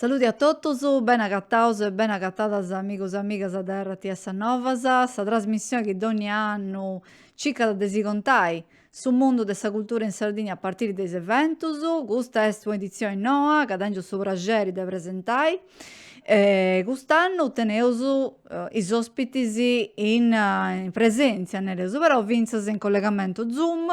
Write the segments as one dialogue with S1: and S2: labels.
S1: Saludi a totus, beni agataus e beni agatadas amigus e amigas de RTS Novas, sa trasmissioni chi dònnia annu circat de si contai Su mundu de sa cultura in Sardigna a partiri de is eventus. Custa est un'editzioni noa ca tèngiu su praxeri de presentai. Cust'annu teneus is òspitis in presèntzia, nareus, però fintzas in collegamentu Zoom.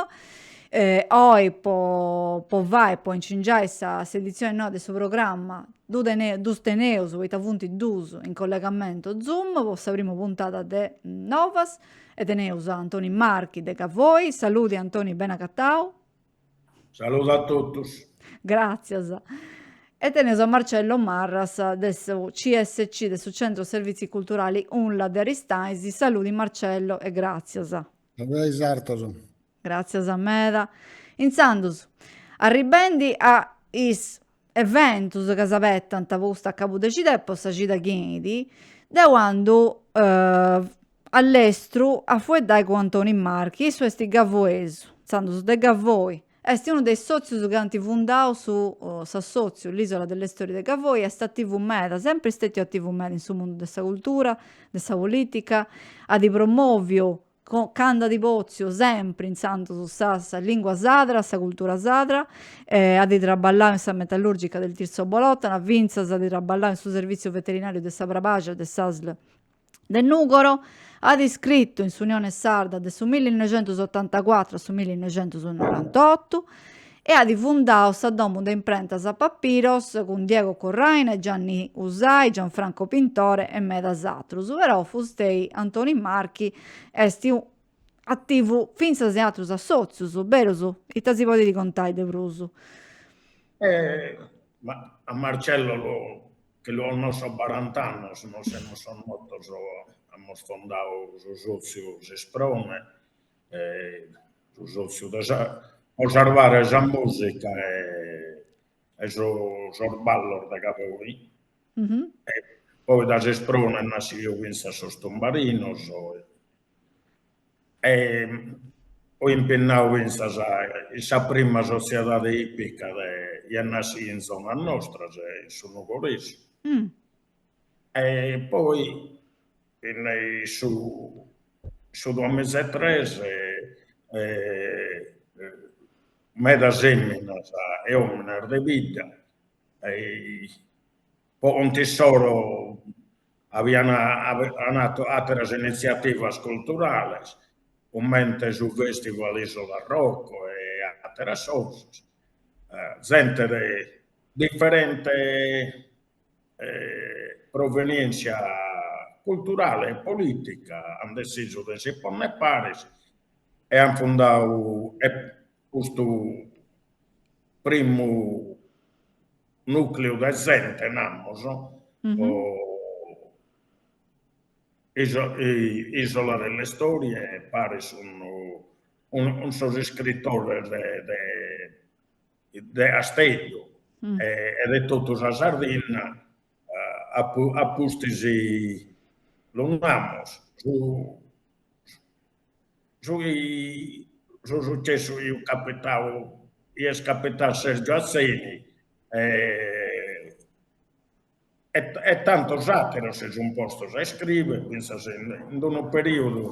S1: Oi po po fai, po incingiai sa s'editzioni noa de su programma ddu teneu ddus teneus poita funt duus in collegamentu Zoom po sa prima puntada de Novas. E teneus a Antoni Marchi de Gavoi. Saludi Antoni, bene acatau. Saludu
S2: a totus. Gràtzias.
S1: E teneus a Marcello Marras de su CSC, de su Centro Servizi Culturali Unla de Aristanis. Saludi Marcello e gràtzias. Saludu a is
S3: artos.
S1: Gràtzias meda. Intzandus, arribendi a is eventus chi s'abetant po custu acabu de cida e po sa cida chi 'enit, deu andu a lestru a fueddai cun Antoni Marchi, issu est gavuesu, intzandus de Gavoi, est unu de is sòtzius chi ant fundau su s'assòtziu L'isola delle storie de Gavoi, est ativu meda, sempri stètiu ativu meda in su mundu de sa cultura, de sa polìtica, at promòviu Candu at pòtziu sempri intzandus sa sa lingua sadra, sa cultura sadra. At traballau in sa metallurgica del Tirso Bolotana, fintzas at traballau in su serviziu veterinariu de sa Brabaxia de s'asl de Nugoro. At iscritu in s'Unione Sarda de su millinoixentusotantacuatru a su millinoixentusonorantotu. e at fundau sa domu de imprentas Papiros cun Diego Corraine, Gianni Usai, Gianfranco Pintore e medas atrus, però Fustei Antoni Marchi est ativu fintzas in atrus assòtzius, berus? Ita si podit contai de
S2: prus? Ma a Marcello chi lu connosco a barant'annus, nos semus connotos, amus fondadu su sòtziu S'Isprone, su sotziu de sa, po sarvare sa musica e sos ballos de Gavoi, poi dae S'Isprone est nasciu finzas sos tumbarinos, fui impinnau finzas in sa prima sotziedade ipica de, est nàschia in zona nostra, in su Nugoresu E poi su duamiza e tres, medas feminas e omines de bidda po contu issoro avian fatu ateras iniziativas culturales comente su festival Isola Rock e ateras cosas, zente de differente provenièntzia culturale e polìtica ant dessisu de si ponner pares e ant fundadu custu primu nùcleu de zente, namus, po Isola delle Storie, pares cun sos iscritores de de Casteddu e de totu sa Sardinna, a pustis lu namus, su chi su sucessu chi iat capitau, chi est capitau a Sergio Atzeni e tantos àteros si sun postos a iscrivere, fintzas in unu perìodu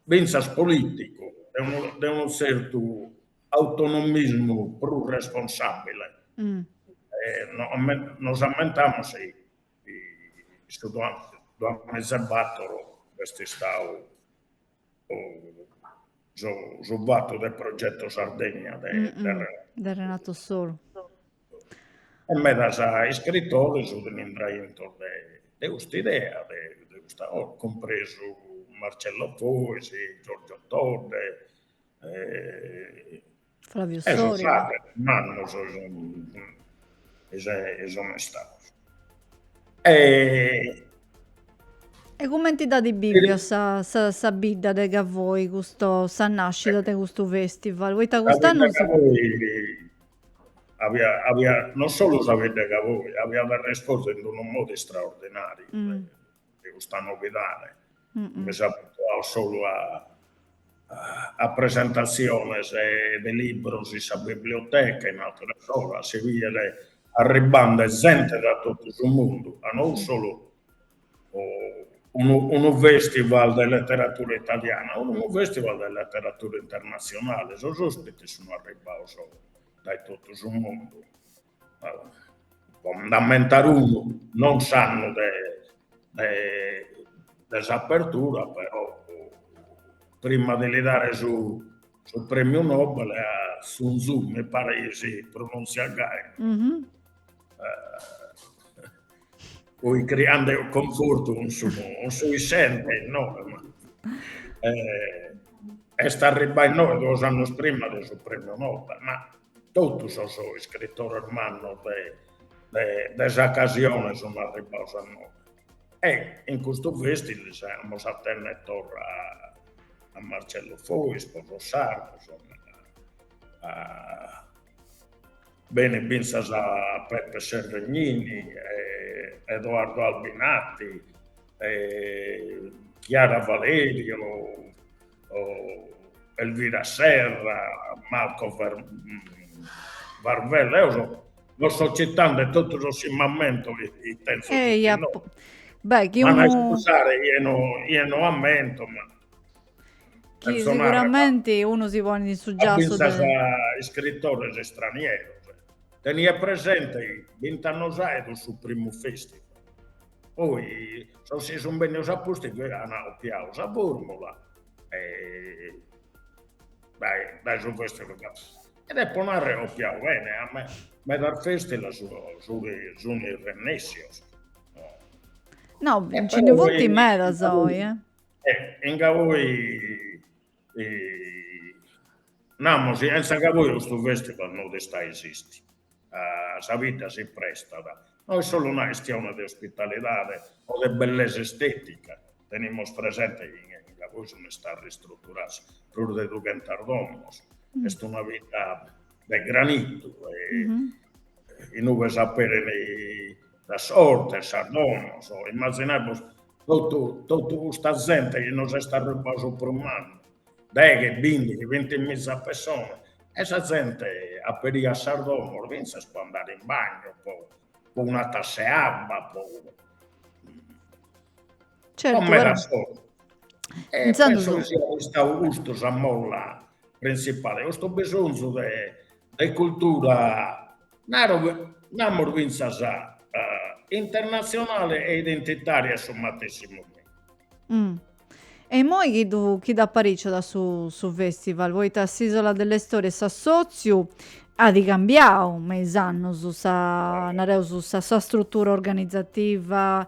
S2: fintzas polìticu de unu tzertu autonomismu prus responsàbile. Nos ammentamus chi su duamiza e bator est istadu su fatu de Progetto Sardegna de de
S1: Renato Soru.
S2: E medas iscritores sun intraos intro de custa idea, de custa cosa, cumpresu Marcello Fois, Giorgio Todde,
S1: Flavio Soriga. E su
S2: frater, mannos sun istados. E
S1: e cumenti dd'at bìviu sa, sa, sa bidda de Gavoi custu, sa nascida de custu festival, poita cust'annu. Sa bidda de Gavoi
S2: aviat, aviat, non solu sa bidda de Gavoi, aviat respostu in unu modu istraordinariu. a custa novidade, mi', abituau solu a presentatziones de libros in sa biblioteca, in ateras cosas si fiat arribbande zente da totu su mundu, ca no fut solu unu unu festival de leteratura italiana, fut unu festival de leteratura internatzionale, sos ospites sun arribbaus dae totu su mundu po nd'ammentare unu, non s'annu de s'apertura però prima de li dare su premiu Nobel a Sun Tzu, mi paret chi si pronunziat gai, poi criende confortu cun su issente, no, est arribbau innoe duos annus prima de su premiu Nobel, ma Totu sos iscritores mannos de de s'ocasione sun arribbados a nois e in custu festival amus a tenner torra a Marcello Fois po sos sardos benit finzas Beppe Severgnini e Edoardo Albinati e Chiara Valerio Elvira Serra, Marco Varvello, eo so, no so citande totu sos chi m'ammento chi tenzo e ia, no. Beh,
S1: chi unu... scusare,
S2: chie
S1: no,
S2: chie no ammento, ma... Chi
S1: sicuramente unu si ponit in su giassu de...
S2: iscritores estranieros. Teniat presente bint'annos aedus su primu festival Poi sos chi sun bennidos a pustis bi an copiadu sa formula e dae dae su festival e depo narrer chi copiadu bene ca me medas festival sun sun
S1: irrennessios No, nci ndi funt medas oi, eh. E
S2: in Gavoi Namus, chentza Gavoi custu festival no dest a esisti, sa bidda si prestat, no est solu una chistione de ospitalidadi o de bellesa estetica, tenimus presenti chi in Gavoi sun istadas ristruturadas prus de dughentas domos, est una bidda de granitu, inue bi s'aperint sa sorte, sas donos, immazinamus totu totu custa zente chi nos est arribbada su primu annu, deghe, bindi, bintimiza pessonas e sa zente aperiat sas donos fintzas po andare in bagno, po po una tassa 'e abba, po
S1: Certu, po meda
S2: solu. E penso chi siat istadu custu sa molla printzipali, custu bisonzu de de cultura, naro namus fintzas internatzionali e identitaria a su matessi momentu.
S1: E imoi chi ddu chi dd'apariciat su su festival, poita s'Isola delle Storie s'assotziu at cambiau me is annus sa nareus sa sa strutura organizativa,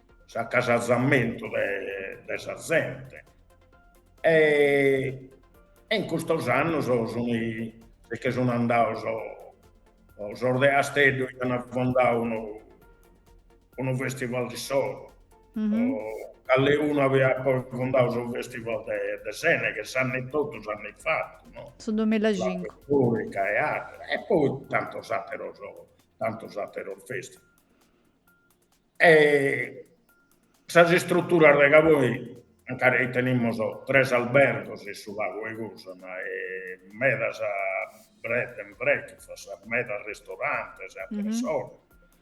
S2: s'acasazamentu de sa zente e in custos annos si che sun andados sos de Asteddu chi an fondadu unu festival de issoro, calecunu aiat poi fondadu su festival de Sèneghe s'annu totu s'annu in fatu, su duemilacincu,
S1: e
S2: ateros e poi tantos ateros tantos ateros festival E sas istruturas de Gavoi, ancari tenimus tres albergos in su lagu 'e Gùsana, medas bed and breakfast, medas ristorantes e ateras cosas,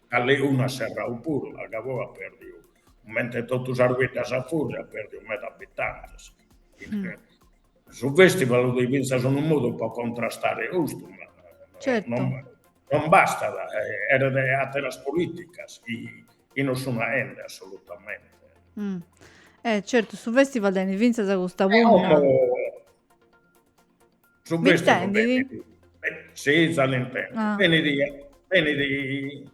S2: calecunu at serrau puru, ca Gavoi at perdiu, comente totu sas biddas a fùrriu, at perdiu medas abitantes Su festival 'udi fintzas unu modu po contrastare custu,
S1: ma
S2: non bastat, eret ateras politicas chi non sun aende assolutamente.
S1: E certu, su festival tenit fintzas custa
S2: punna. Su festival tenit, si, za l'intendo, tenit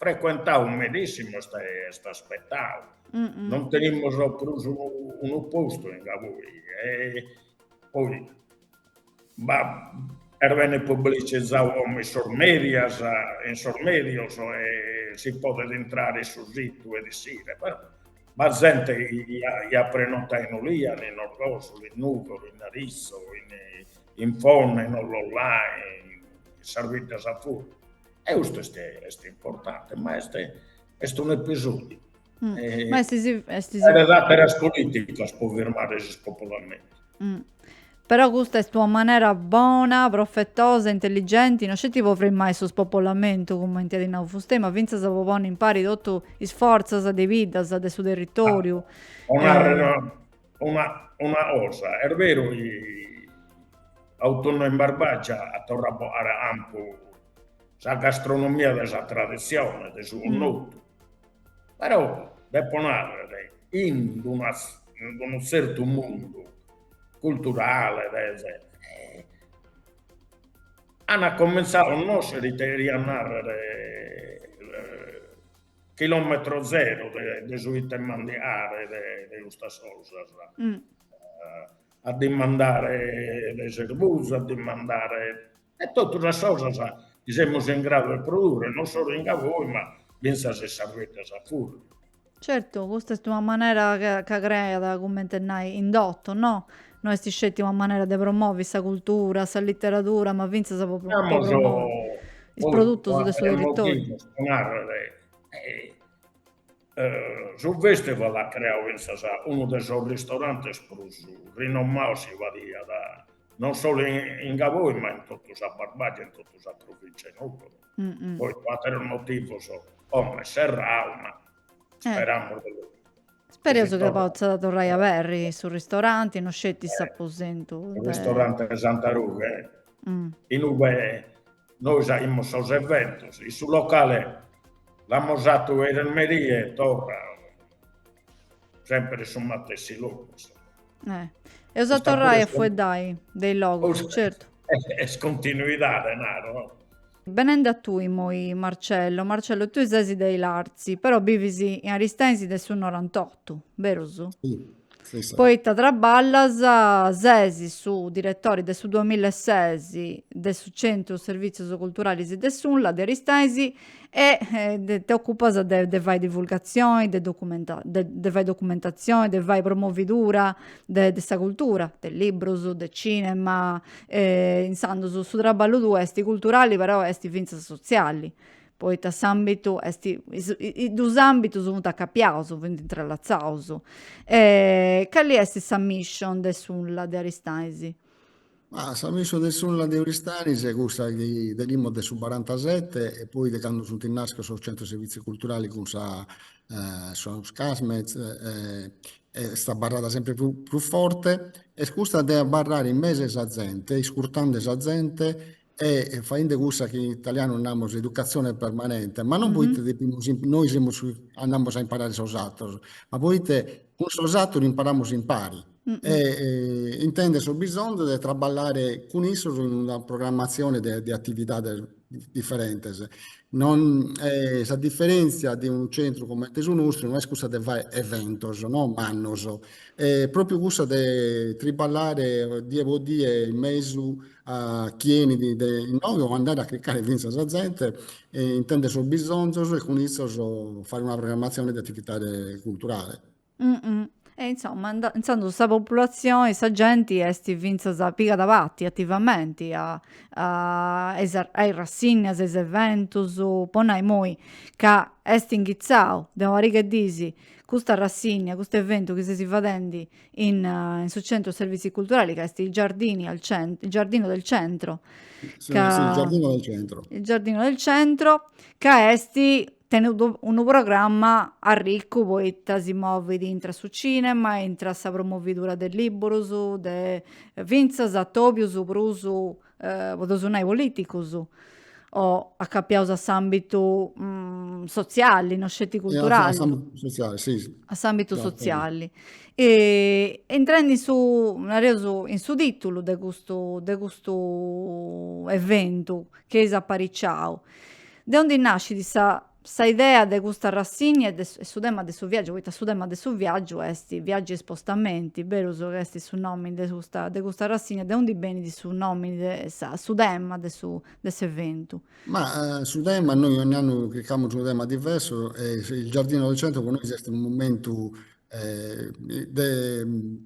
S2: Frecuentau medìssimu est aspetau, non tenimus prus unu postu in Gavoi, poi est bene publicizau como in sos mèdias, in sos mèdios e si podet intrare in su situ e ischire, però b'at zente chi at prenotau in Olìana, in Orgosolo, in Nùgoro, in Aritzu, in Fonne, in Ollolai, in sas biddas a fùrriu, E custu est, est importante, ma est, est un episodiu. Mm. E, ma
S1: est, est, est... Eret
S2: ateras politicas po firmare su spopolamento. Mm.
S1: Però custa est una manera bona, profetosa, intelligenti, non sceti po frimai su spopolamentu, cumenti at nau Fustei, ma fintzas po ponni impari totu is fortzas de biddas de su territoriu. Ah, eh,
S2: Una, una cosa, est beru chi Autunnu in Barbagia at torrau a bogare a campu sa gastronomia de sa traditzione, de su connotu, però depo nàrrere chi in d'una in d'unu tzertu mundu culturale de an comintzau a connòschere ite cheriat nàrrere Chilòmetro zero de su ite mandiare de custas cosas, a dimandare de s'erbuzu, a dimandare de totu sas cosas chi semus in gradu 'e produrre, non solu in Gavoi ma fintzas in sas biddas a fùrriu. Certu, custa
S1: est una manera ca creat, cumenti 'e nai, indotu, no? No est sceti una manera de promovi sa cultura, sa literadura, ma fintzas pro po is produtus de su
S2: territoriu. Su festival at creau fintzas unu de sos ristorantes prus rinomaus chi bi fiat, non solu in Gavoi ma in totu sa Barbagia e in totu sa provintzia 'e Nugoro, poi po aterus motivus como est serrau ma speramus de
S1: Spereus chi potzat torrai a aberri su ristoranti, no sceti s'aposentu de. Su ristoranti
S2: 'e Santa Rughe, inube nois aimus sos eventos, in su locale l'amus fatu a merie e torra, sempre su matessi logu
S1: insomma. Eus a torrai a fueddai de is logus, certu. Est
S2: continuidade naro. Benende
S1: a tui immoi Marcello, Marcello tui sesi de Ilartzi però bivis in Aristensi de su norantottu, berus? Si.
S3: Poita traballas,
S1: sesi su diretori de su duamilla e ses de su Centru Servitzios Culturalis de s'UNLA de Aristensi e ti ocupas de fai divulgatzioni, de de fai documentatzioni, de fai promovidura de sa cultura, de librus, de cinema, E intzandus su traballu tuu est culturali però est fintzas sotziali, poita s'ambitu is dus ambitus funt acapiaus, funt intrallatzaus. E cali est sa mission de s'unla de Aristanis? Ma
S3: sa mission de s'unla de Aristanis est cussa chi tenimus de su barantasette e poi de candu funt naschius sos centros servizi culturali cun sa sos Casmez e Est abarrada sempre prus forte, est cussa de abarrare in mesu 'e sa zente, iscurtende sa zente e faende cussa chi in italianu namus educazione permanente, ma non poita depimus, nois semus, andamus a imparare sos ateros, ma poita cun sos ateros imparamus impari e intende su bisonzu de traballare cun issos in una programmazione de atividades diferentes. No, sa diferentzia de unu centru comente su nostru no est cussa de fai eventos no mannos, est propriu cussa de triballare die po die in mesu a chie benit innoghe o andare a chircare finzas sa zente e intender sos bisonzos e cun issos fai una programmazione de attivitade culturale.
S1: E insomma, intzandus sa populatzioni, sa genti est fintzas pigat parti ativamenti a a is rassinnias, a is eventus, po nai imoi ca est inghitzau de una pariga 'e dis custa rassinnia, custu eventu chi seis fadendi in su centro servizi culturali ca est il giardini al centro, il giardino del centro, ca,
S3: il giardino del
S1: centro, ca est Teneis unu programma arricu poita si movit intra su cinema, intra sa promovidura de libburus, de fintzas atobius prus podeus nai politicus o acapiaus a s'ambitu sotziali, no sceti
S3: culturali. A s'ambitu
S1: sotziali. Intrendi in su, nareus, in su titulu de custu de custu eventu chi eis apariciau, De ondi nascit sa sa idea de custa rassigna e e su tema de su viaggiu, poita su tema de su viaggiu est viaggi e spostamenti, berus ca est su nomini de custa de custa rassigna, de onde benit su nomini de sa su tema de su de s'eventu? Ma
S3: su tema, nois ogni annu chircamus unu tema diversu e il giardino del centro po nois est unu momentu de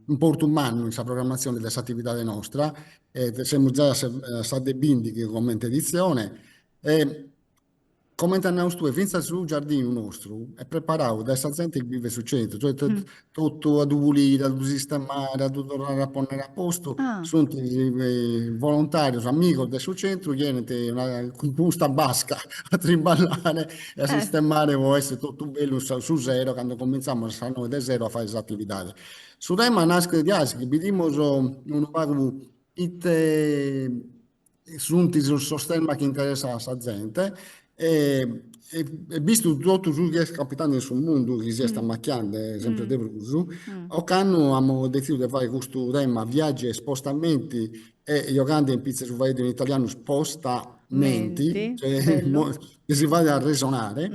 S3: importu mannu in sa programmatzioni de s'atividadi nostra e semus giai a sa de bindighi comente editzioni E, comente as nau tue, fintzas su giardinu nostru est preparau dae sa zente chi bivet su centru, cioè totu a
S1: ddu puliri,
S3: a ddu sistemare, a ddu torrare a ponnere a postu, sunt volontarios, amigos de su centru chi enint cun custa basca a trimballare e a sistemare po
S1: essi
S3: totu bellu su sero candu comintzamos a sas noe de sero a fai is atividadis. Su tema naschet diaici chi bidimus unu pagu ite sunt sos temas chi interessant a sa zente e bistu totu su chi est capitande in su mundu chi si est amachiande sempre
S1: de
S3: prus, ocannu
S1: amus
S3: detzidu de fai custu tema viaggi e spostamenti e giogande in pitze su faeddu in italianu
S1: spostamenti
S3: chi si fait arresonare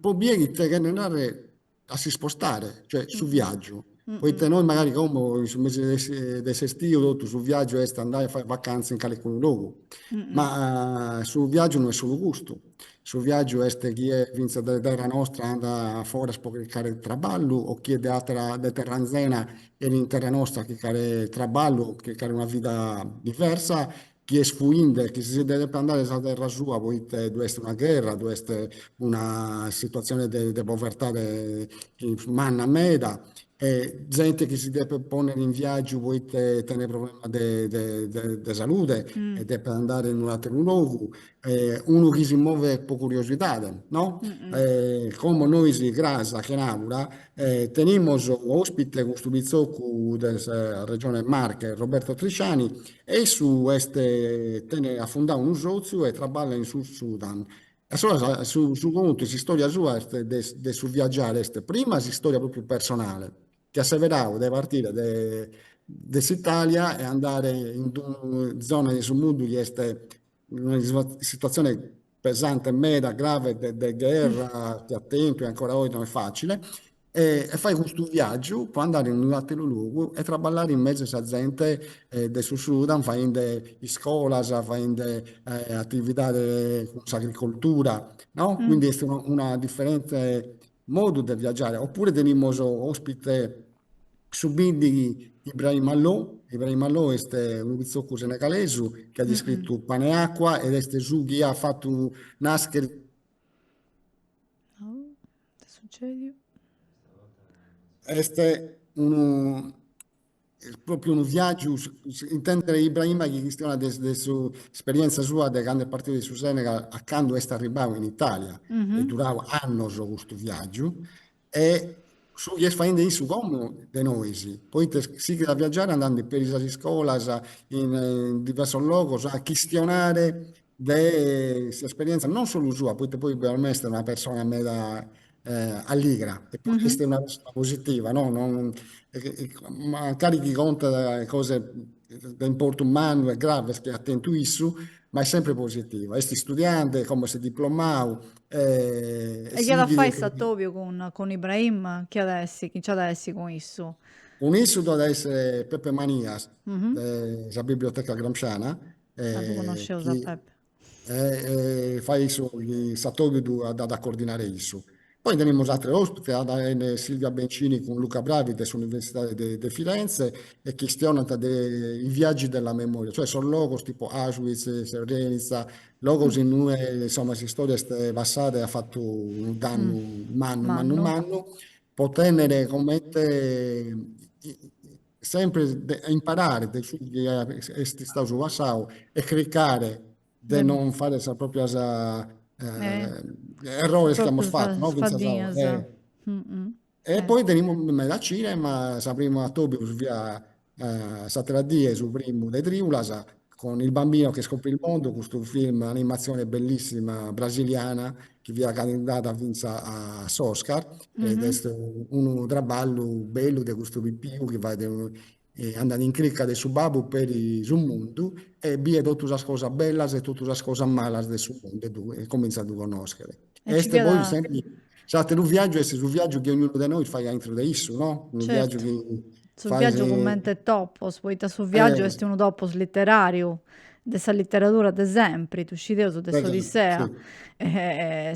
S3: po ite cheret narrer a s'ispostare, cioè su viaggiu,
S1: poita nois
S3: magari
S1: como
S3: in
S1: su
S3: mesi de s'estiu totu su viaggiu est andai a fai vacanza in calicunu logu, ma
S1: su viaggiu
S3: no est solu custu, su viaggiu est chie finzas de terra nostra andat foras po chircare traballu o chie de atera, de terra anzena 'enit in terra nostra a chircare traballu o chircare una vida diversa chie est fuinde e chie si nde depet andare dae sa terra sua poite ddu est una gherra, ddu est una situatzione de povertade manna meda e zente chi si depet pònnere in viàgiu poite tenet problemas de salude e depet andare
S1: in
S3: un'àteru logu unu chi si movet po curiosidade,
S1: no? Como
S3: nois cras a Chenàbura tenimus òspite custu pitzocu de sa Regione Marche, Roberto Trisciani, e issu est, tenit, at fundau unu sòtziu e traballat in Sud Sudan. E allora su su contu e s'istòria sua est de de su viagiare est prima s'istòria pròpriu personale, chi at seberau de partire de de s'Italia e andare in d'unu zona de su mundu chi est in una situatzione pesante meda, grave de gherra, pius a tempus e ancora oi no est facile, e fait custu viaggiu po andare in unu atteru logu e traballare in mesu a sa zente de su Sudan faende iscolas, faende attividade cun s'agricoltura, no? Quindi est una differente modu de viaggiare, oppure tenimus ospite su bindighi Ibrahima Lo, Ibrahima Lo est unu pitzocu senegalesu chi at iscritu Pane e
S1: acqua ed
S3: est su chi at fatu nàschere
S1: Est
S3: unu pròpriu unu viàgiu, intèndere Ibrahima chi chistionat de s'esperièntzia sua de candu est partidu de su Senegal a candu est arribau in Itàlia, est durau annos
S1: custu
S3: viàgiu E su chi est faende issu como de nou, poite sighit a viagiare andande peri sas iscolas in diversos logos a chistionare de s'esperienza non solu sua, poite poi per me est una persona meda alligra e poi est una persona positiva, no, mancari chi contat cosas de importu mannu e graves chi at tentu issu, ma est sempre positiva. Est istudiante, como est diplomadu, E
S1: chi at a fai s'atòbiu cun Ibrahima? Chi at a essi, chi nci at a essi cun issu? Cun issu ddu at
S3: a essi Peppe Manias de
S1: sa Biblioteca
S3: Gramsciana. Ah, ddu
S1: connosceus
S3: a
S1: Peppe.
S3: Fait issu, s'atòbiu dd'at a coordinare issu. Poi tenimus ateros ospites, at a benni Silvia Bencini cun Luca Bravi de s'Universidade de Firenze e chistionant de i viaggi della memoria, cioè sos logos tipo Auschwitz, Srebrenica, Logos in ue insomma s'istoria est passada e at fatu unu dannu mannu mannu mannu po tennere comente sempre de imparare de su chi est istadu su passadu e chircare de non fagher sas proprias
S1: errores
S3: chi amus fatu no fintzas a oe
S1: E eh. poi
S3: tenimus meda cinema, su primu atobiu fiat s'atera die su primu de Triulas, cun Il bambino che scoprì il mondo, custu film animazione bellissima brasiliana chi fiat candidata finza a s'Oscar mm -hmm. ed est unu traballu bellu de custu pipiu chi fait de unu andat in crica de su babbu peri su mundu e biet totu sas cosas bellas e totu sas cosas malas de su mundu e comintzat a ddu connoschere. Est poi
S1: sempre,
S3: s'àteru viàgiu est su viàgiu chi ognunu de nois fait aintru de issu, no? Unu viàgiu chi faghet. Su viàgiu
S1: cumenti
S3: topos,
S1: poita su viàgiu est unu topos literàriu. de sa literadura de sempri, ddu scideus de s'Odissea,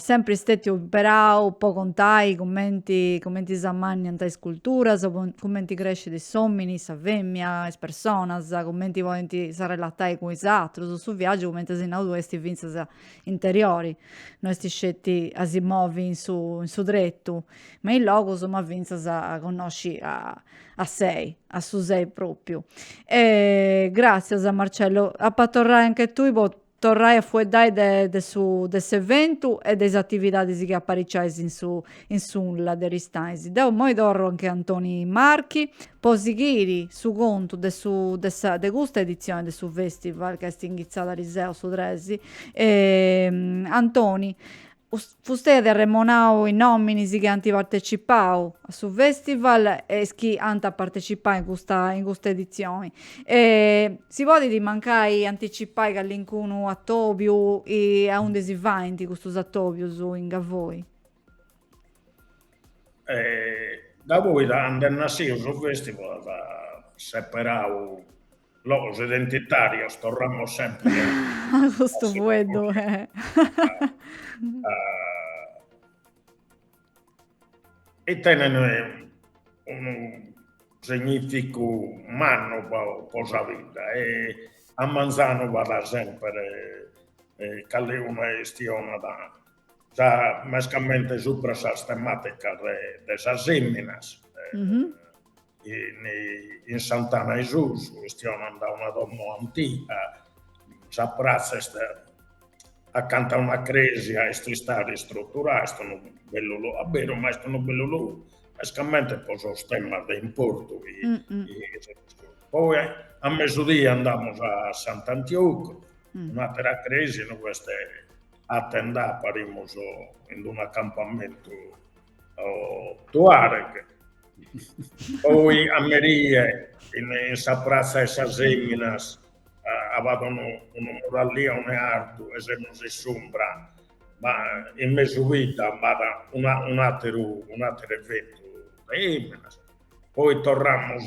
S3: sempri
S1: stètiu imperau po contai cumenti cumenti s'ammanniant is culturas, cumenti crescit s'òmini, sa fèmmia, is personas, cumenti podint s'arrelatai cun is atrus, su viagiu cumenti as nau tui est fintzas interiori, no est sceti a si movi in su in su tretu me is logus ma fintzas a connosci a A sei, a su sei propriu. E gràtzias Marcello, ap'a torrai anche tui po torrai a fueddai de de su de s'eventu e de is atividadis chi apariciais in su in s'UNLA de Aristanis. Deu immoi torru anche Antoni Marchi po sighiri su contu de su de sa de custa editzioni de su festival ca est inghitzada ariseu su tres e Antoni Fustei at arremonau is nominis chi ant partecipau a su festival e is chi ant a partecipau in custa in custa edizioni. Si podit mancai anticipai callincunu atobiu e a unde si faint custus atobius in
S2: Gavoi? Gavoi da 'and'est nasciu su festival at seperau Logos identitarios, torramos sempre a a
S1: custu fueddu.
S2: E tenent unu significu mannu po sa vidda e a manzanu b'at sempre calincuna chistionada mescamente supra sas tematicas de de sas eminas in in S'Antana 'e Susu chistionan da una domo antiga, sa pratza est acanta a una cresia est istada ristruturada, est unu bellu logu, a beru ma est unu bellu logu mescamente po sos temas de importu poi a mesu die andamus a Sant'Antiocu un'atera cresia inue b'est sa tenda parimus in unu acampamentu tuareg, poi a merie in sa pratza 'e sas eminas b'at unu murallione artu e semus in s'umbra, ma in mesu bidda b'at un'ateru un'ateru eventu de eminas, poi torramus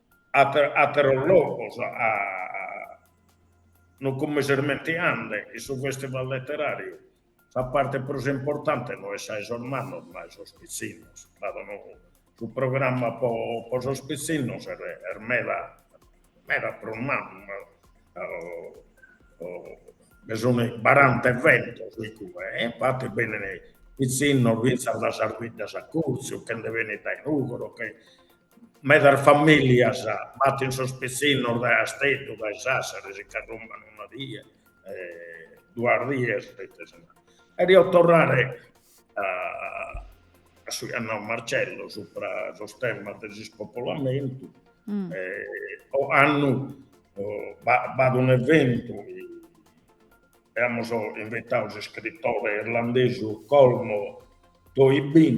S2: ateros logos no che mi so irmentiande in su festival leterariu sa parte prus importante no est sa 'e sos mannos ma 'e sos pitzinnos cado no su programma po sos pitzinnos est meda meda prus mannu nde sun baranta eventos igue e infati benit pitzinnos finzas dae sas biddas a curtziu che nde benit dae Nùgoro che Medas famìllias batin sos pitzinnos dae Casteddu, dae Sàssaris, s'acarròmpan una die, duas dies. E cherio torrare a su chi at nau Marcello supra sos temas de s'ispopolamentu, ocannu b'at un'eventu chi amus invitadu s'iscritore irlandesu Colmo Toibin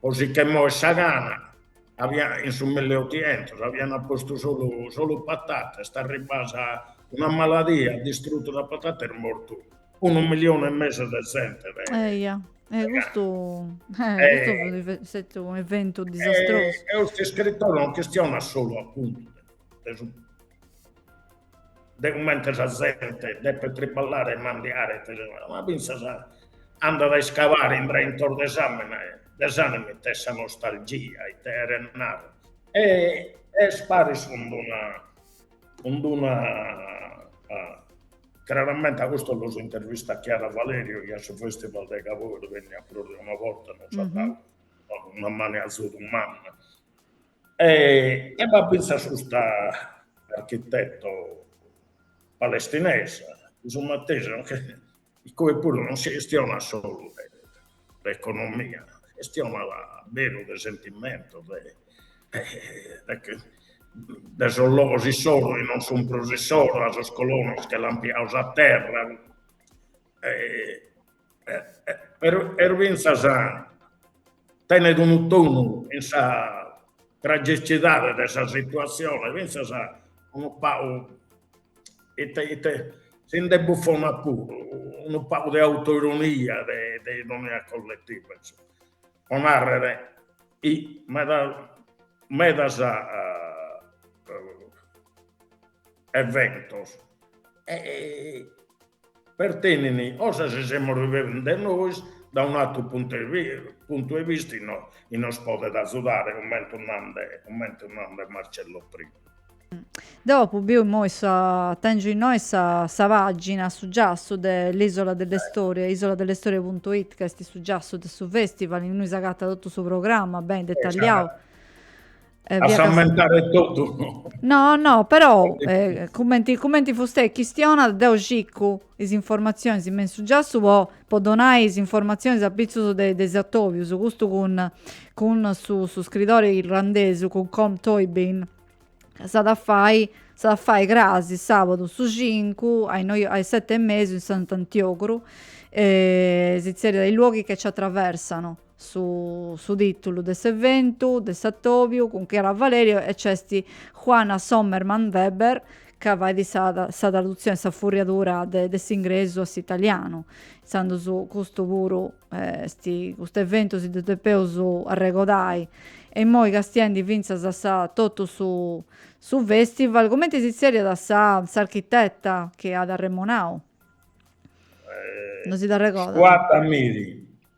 S2: po si che morit sa gana, in su milleotientos avian postu solu patatas, est arribbada una maladia, at distrutu sa patata, est mortu unu milione e mesu de zente de gana. Eia, e
S1: custu est unu eventu disastrosu. E custu iscritore
S2: non chistionat solu apuntu de su de cumenti sa zente depet triballare e mandiare e tesinare, ma fintzas andat a iscabare in intro de sa mente e de s'anima ite est sa nostalgia, ite cheret nare. E est paris cun una cun una craramenti a custos los intervistat Chiara Valerio chi a su festival de Gavoi est vènnida prus de una borta nos at dadu una manu 'e azudu manna E b'at fintzas custa architeto palestinesa, su matessi, incue puru non si chistionat solu de economia, si chistionat beru de sentimentu, de sos logos issoro chi non sun prus issoro, a sos colonos chi l'ant pigadu sa terra Però fintzas tenet unu tonu in sa tragicidade de sa situatzione, fintzas unu pagu ite ite, si nde bufonat puru, unu pagu de autoironia de ironia colletiva, po nàrrere, medas eventos pertenint cosas chi semus rivivende nois da un'atru puntu 'e vista e nos podet azudare cummentu nant cummentu nant Marcello prima. Dopu
S1: biu immoi sa tèngiu innoi sa sa pàgina su giassu de l'isola delle storie isola delle storie punto it ca est su giassu de su festival innui s'agatat totu su programma beni detalliau
S2: Eh, a s'ammentare totu. No, no,
S1: però, eh, cumenti, cumenti fustei chistionat, deu circu is informatzionis me in su giassu po, po donai is informatzionis apitzus de, de is atobius, custu cun, cun su, su scridori irlandesu, cun Com Toibin, s'at a fai, s'at a fai crasi sabadu su cincu a Gavoi, a is sete e mesu in Sant'Antiogru, e si zerriat i luoghi che ci attraversano. Su tìtulu de s'eventu de s'atòbiu cun Chiara Valerio e nc'est Juana Sommermann-Weber ca fait sa tradutzione e sa furriadura de s'ingresu a s'italianu. Intzandus custu puru est, custu eventu si ddu depeus arregodai e immoi castiendi fintzas a sa totu su festival. Cumenti si tzerriat sa s'architeta chi at arremonau? Non si dda arregodat. Suad Amiry.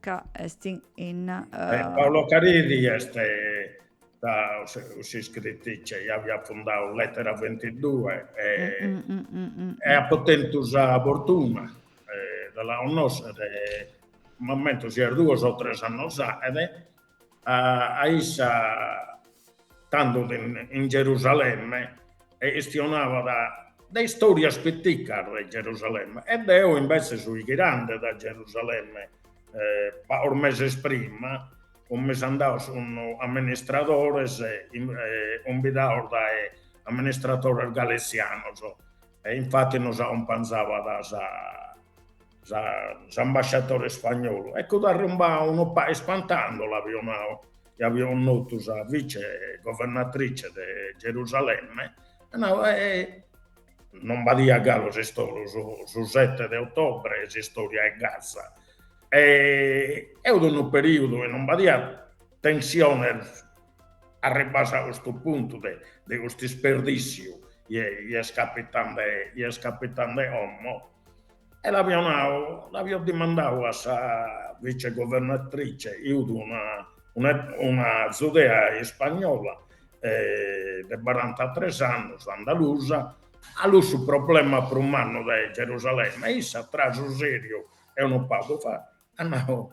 S1: Ca est in... in uh... eh,
S2: Paola Caridi est s'iscritrice, chi aviat fundau Lettera 22 e, mm, mm, mm, mm, e apo tentu sa fortuna, eh, de la connòschere, m'ammento sian duos o tres annos fa, ed a issa tando in Gerusalemme e chistionabat de istòrias piticas de Gerusalemme e deo imbetzes fui ghirande dae Gerusalemme pagos meses prima, fumis andaos cun amministradores cumbidados dae amministratores galizianos e infati nos acumpanzabat sa s'ambasciatore spagnolu, eccu fut arrumbada unu pagu ispantada cando l'aviu nau, chi aviu connotu sa vice governatrice de Gerusalemme, at nau, non b'adia galu su sette de ottobre s'istória 'e Gaza, e fut unu perìudu chi non b'adia tensiones arribbadas a custu puntu de custu isperdíssiu chi est capitande, chi est capitande como E l'aviu nau, l'aviu dimandau a sa vicegovernatrice, chi fut una una zudea ispagnola de barantatres annus, andalusa, cale fut su problema prus mannu de Gerusalemme e issa tra su seriu e unu pagu fata at nau,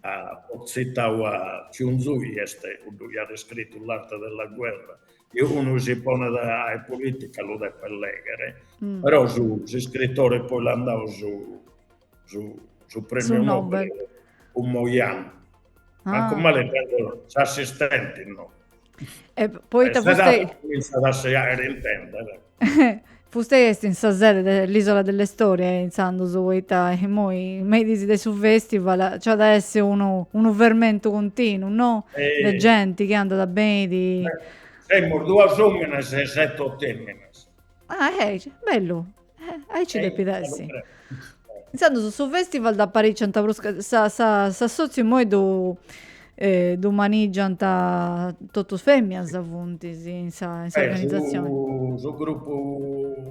S2: at tzitau a Sun Tzu, chi est cuddu chi at scritu L'arte della guerra, chi unu chi si ponet a fai politica lu depet lèghere, però s'iscritore poi l'ant dau su premiu Nobel cun Mo Yan, mancu male, s'assistenti no,
S1: E poita fustei... Cominçat a segare in tempes. Fustei est in sa sede de l'Isola delle Storie intzandus, poita immoi me is dis de su festival, nci at a essi unu, unu fermentu continu, no? E... De genti chi andat e benit. Semus
S2: duas òmines e sette oto fèminas. Ah,
S1: eh, bellu. Eh, ah nci depit essi. Intzandus su, su festival dd'aparìciant prus ca, sa, sa, s'assòtziu immoi ddu, eh, ddu manìgiant totus fèminas funti, sì, in sa, in sa eh, organizzazione. Su, su
S2: gruppo,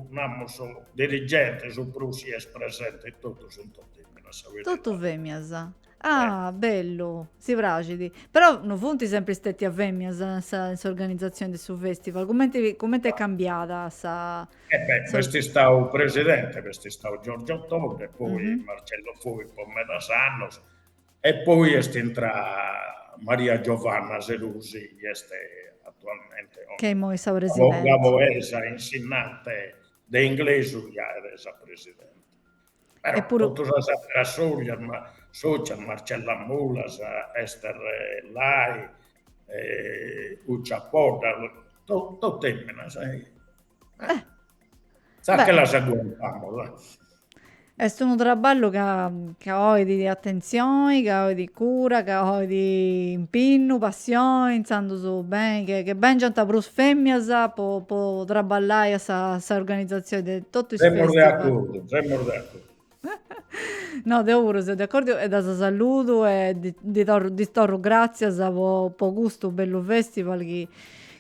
S2: namus, dirigente, su prus chi est presente totus sun totu fèminas. Totu
S1: fèminas. Eh. Ah, bellu, si praxit. Però no funt sempri stètias fèmias in sa in s'organizatzioni de su fèstival, cumenti cumenti est cambiada sa... Eh beh, sa b'est istau
S2: presidente, b'est istau Giorgio Todde e poi Marcello Fois po medas annus e poi est intrada Maria Giovanna Serusi chi est atualmente Ca imoi est sa
S1: presidente.
S2: gavoesa, insinnante de inglesu chi est sa presidente. Però totu sas àteras sòcias, Marcella Mulas, Ester Lai, Uccia Podda, totu fèminas. Si che las aguantamus.
S1: Est unu traballu ca bolit atentzioni, ca bolit cura, ca bolit impinnu, passioni, intzandus beni che bèngiant prus fèmias po traballai a sa organizatzioni de totu is festival. Semus de acordu. Tremor dentro. No, deo puru seu de acordu e ddas saludu e ddis torru gràtzias po, po custu bellu festival chi,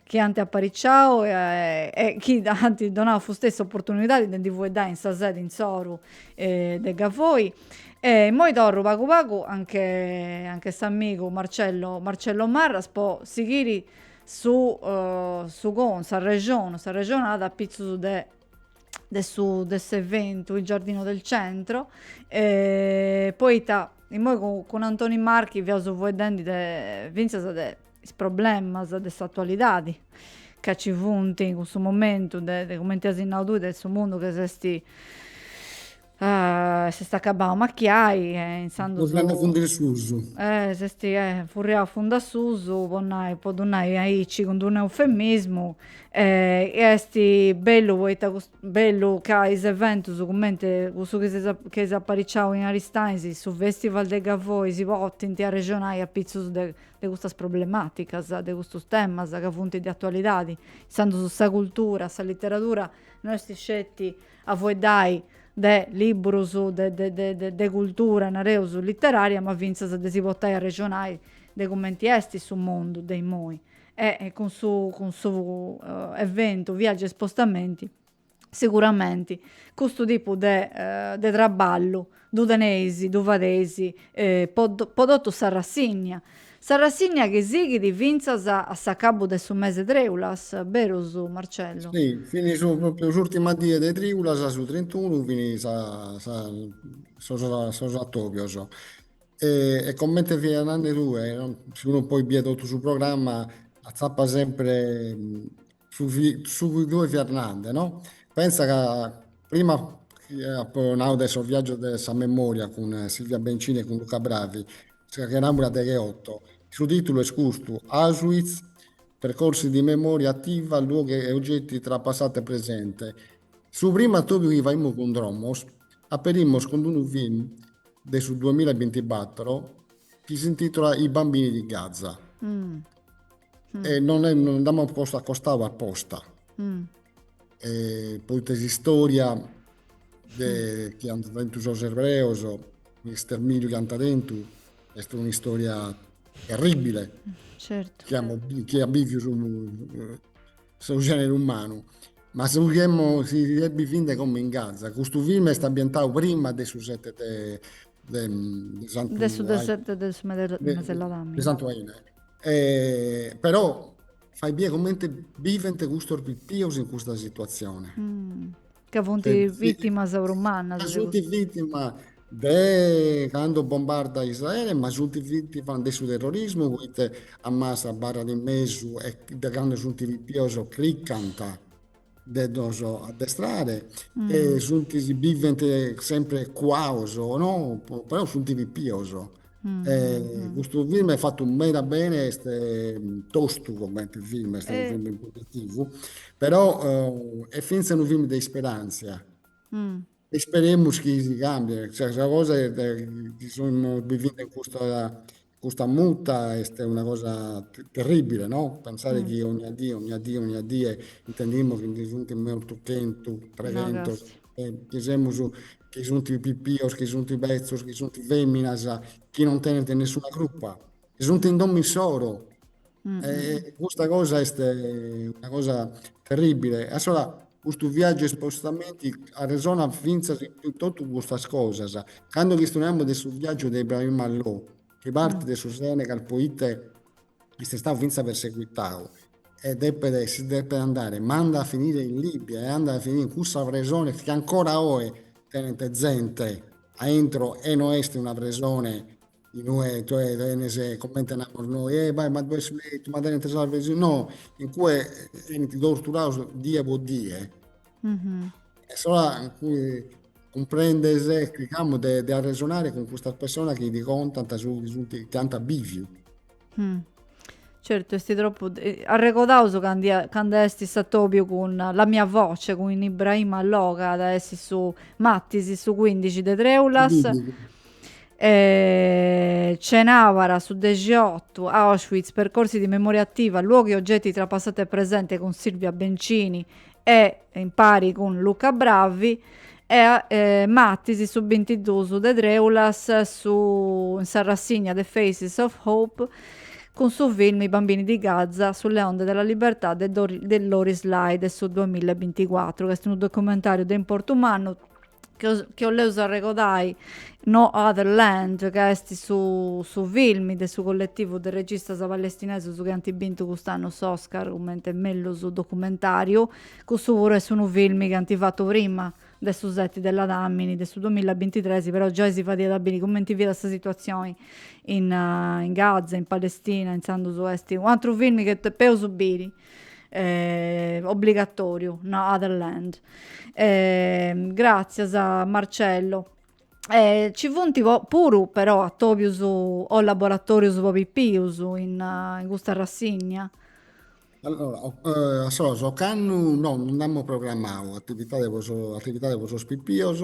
S1: chi ant apariciau e chi ant donau su stessu s'oportunidadi de ndi fueddai in sa sedi insoru de Gavoi. E immoi torru pagu pagu anche, anche s'amigu Marcello, Marcello Marras po sighiri su su con, s'arrexonu, s'arrexonada apitzus de de, su, de s'eventu Il Giardino del Centro e poita immoi cun, cun Antoni Marchi fiaus fueddendi de, fintzas de is problemas de s'atualidadi ca nci funt in cussu momentu de, cumenti as nau tui, de su mundu ca s'est Ah, s'est acabau de amachiai e intzandus. A fundu a
S3: susu. Eh,
S1: s'est furriau a fundu a susu, po nai, po ddu nai aici cun d-unu eufemismu, e est bellu poita custu, bellu ca is eventus cumenti cussu chi seis, chi eis apariciau in Aristanis, su festival de Gavoi, si potint arrexonai apitzus de de custas problematicas, de custus temas ca funt de atualidadi. Intzandus sa cultura, sa literadura no est sceti a fueddai de libburus de cultura, nareus, literaria, ma fintzas de si portai a arrexonai de cumenti esti su mundu de immoi. E cun su cun su eventu Viaggia e spostamenti siguramenti custu tipu de traballu Ddu teneis, ddu fadeis po po totu s'arrassinnia. S'arrassinnia chi sighit fintzas a s'acabu de su mese Trèulas, berus Marcello? Si, fini su
S3: propriu s'ùrtima die de Trìulas, su trentunu, fini sa sa sos sos atòbios. E comente fia nande tue, si unu poi biat totu su programma, atzapat sempre Su su chi tue fis nande, no? Pensa ca prima apo nau de sos viaggios de sa memoria cun Silvia Bencini e cun Luca Bravi, sa chi faimus su deghe otto, su titulu est custu, Auschwitz, percorsi di memoria attiva, luoghi e oggetti tra passato e presente. Su primu attobiu chi faimus cun Dromos, aperimus cun unu film de su duamilla e bintibattoro chi s'intitolat I bambini di Gaza. mm. e non, non ddu amus postu acostau aposta. Mm. E, poita s'istòria de mm. chi ant tentu sos ebreos, s'estermìniu chi ant tentu, est un'istòria terribile
S1: certo. chi, amus, chi
S3: at bìviu su, su genere umanu. Ma si si ebbit biende como in Gaza, custu film est ambientau prima de su 7 de
S1: de,
S3: de Santu De su sete de
S1: su
S3: Meseladamine. De Santu Aine. E, però fai bie comente bivent custos pipios in custa situazione. Mm. Ca
S1: funt vìtimas prus mannas. Ca funt
S3: vìtimas de cando bombardat Israele, ma funt vìtimas de su terrorismu, poita Hamas abarrat in mesu e de cando funt pipios cricant de ddos addestrare e sunt si bivent sempre cuados o no, però sunt pipios. E custu film est fatu meda bene, est tostu comente film, est unu film impegnativu, però est fintzas unu film de
S1: isperantzia, isperemus
S3: chi si càmbiet, cioè sa cosa est chi semus biviende in custa Custa muta est una cosa terribile, no? Pensare chi ogna die, ogna
S1: die,
S3: ogna die intendimus chi ndi sunt mortos chentu, treghentos, chi semus chi sunt pipios, chi sunt betzos, chi sunt feminas, chi non tenent nessuna crupa, chi sunt in domo issoro, Custa cosa est una cosa terribile. Assora custu viaggiu e spostamenti arresonat fintzas de totu custas cosas. Cando chistoneamus de su viaggiu de Ibrahima Lo, chi partit de su Senegal poite est istau fintzas perseguitau e depet, si depet andare, ma andat a finire in Libia e andat a finire in cussa presone chi ancora oe tenent zente aintro e no est una presone in ue tue tenes, comente namus noi, e bai ma ddoi est su letu, ma tenent sas fesi, no, in cue benint torturados die po die. E assora cumprendes e chircamus de arresonare cun custas personas chi ti contant su chi ant biviu.
S1: Mm. Certu, est tropu... Eh, arregodaus cando est s'atobiu cun la mia voce, cun Ibrahim Allò, ca est su martis, su 15 de Treulas. Didi. E... Cenàbara, su 18, Auschwitz, percorsi di memoria attiva, luoghi e oggetti tra passato e presente cun Silvia Bencini e impari cun Luca Bravi. E martis su bintidusu de trèulas su in s'arrassigna The Faces of Hope cun su film I bambini di Gaza, Sulle onde della libertà de de Loris Lai de su duamilla e binticuatru, ca est unu documentàriu de importu mannu chi 'oleus arregodai No Other Land, ca est su su film de su colletivu de registas palestinesus chi ant bintu cust'annu s'Oscar cumenti mellus documentàriu Custu puru est unu film chi ant fatu prima de su seti de Ladamini de su duamilla e bintitres, però giai si fadiat biri cumenti fiat sa situatzioni in in Gaza, in Palestina, intzandus est u' atru film chi depeus biri obbligatoriu, No other land. Gratzias Marcello. Ci funt puru però atobius o laboratorius po pipius in custa rassigna?
S3: Allora, ocannu no, non nd'amus programmadu atividade po sos atividade po sos pipios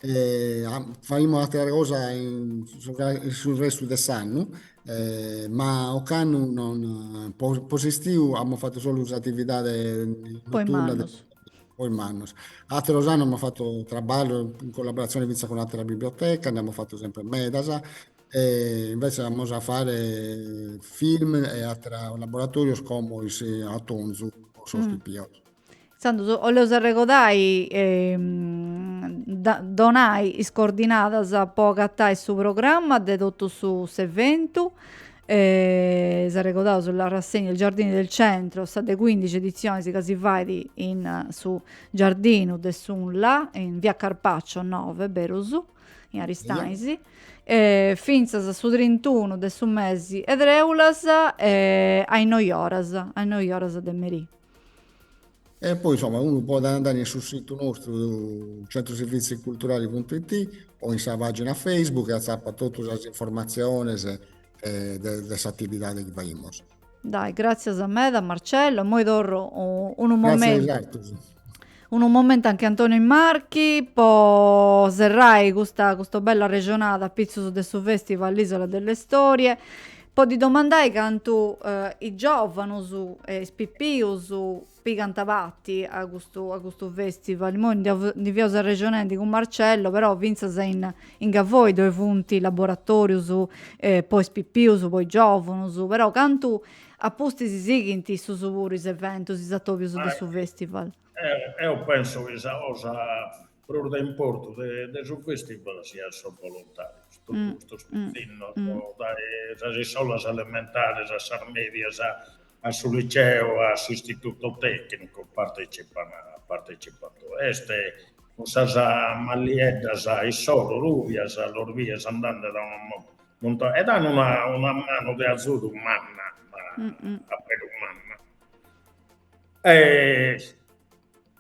S3: e faghimus atera cosa in su restu de s'annu ma ocannu non, po s'istiu amus fatu solu s'atividade po
S1: is
S3: mannos, po
S1: is
S3: mannos. Ateros annus amus fatu traballos in collaboratzione fintzas cun ateras bibliotecas, nd'amus fatos semper medas E invece amus a fare film e atera laboratorios como in atonzu po sos pipios. Intzandus
S1: 'oleus arregodai donai is coordinadas po agatai su programma de totu su s'eventu. Dd'arregodaus sa rassegna Il giardino del centro, sa de cuindixi editzionis ca si fait in su giardinu de s'Unla in via Carpaccio nobe, berus. in Aristanis, fintzas su trintunu de su mesi 'e trèulas a is noi oras, a is noi oras de merì.
S3: E poi insoma unu podet andai in su situ nostru centroserviziculturali.it o in sa pagina Facebook e atzapat totus sas informatziones de s'atividadi chi faimus. Dai,
S1: gràtzias meda Marcello, immoi torru unu
S3: momentu, unu
S1: momentu anche Antonio Marchi po serrai custa custa bella arrexonada apitzus de su festival L'isola delle storie, po ddi domandai cantu is giovanus e is pipius pigant parti a custu, a custu festival, imoi ndi fiaus arrexonendi cun Marcello, però fintzas in in Gavoi ddoi funt laboratorius po is pipius, po is giovunus, però cantu apustis sighint issus puru is eventus, is atobius de su
S2: festival?
S1: Deu pensu chi
S2: sa
S1: cosa
S2: prus de importu de su fèstival siat sos bolontàrios, totu
S1: custos pitzinnos, dae sas
S2: iscolas elementares a sas mèdias, a su liceo, a s'istituto tècnicu, partètzipan, partetzipande. Est cun sas mallieddas issoro rùbias, los bides andande, nde at unu muntone, e dan una manu de azudu manna,
S1: a beru manna.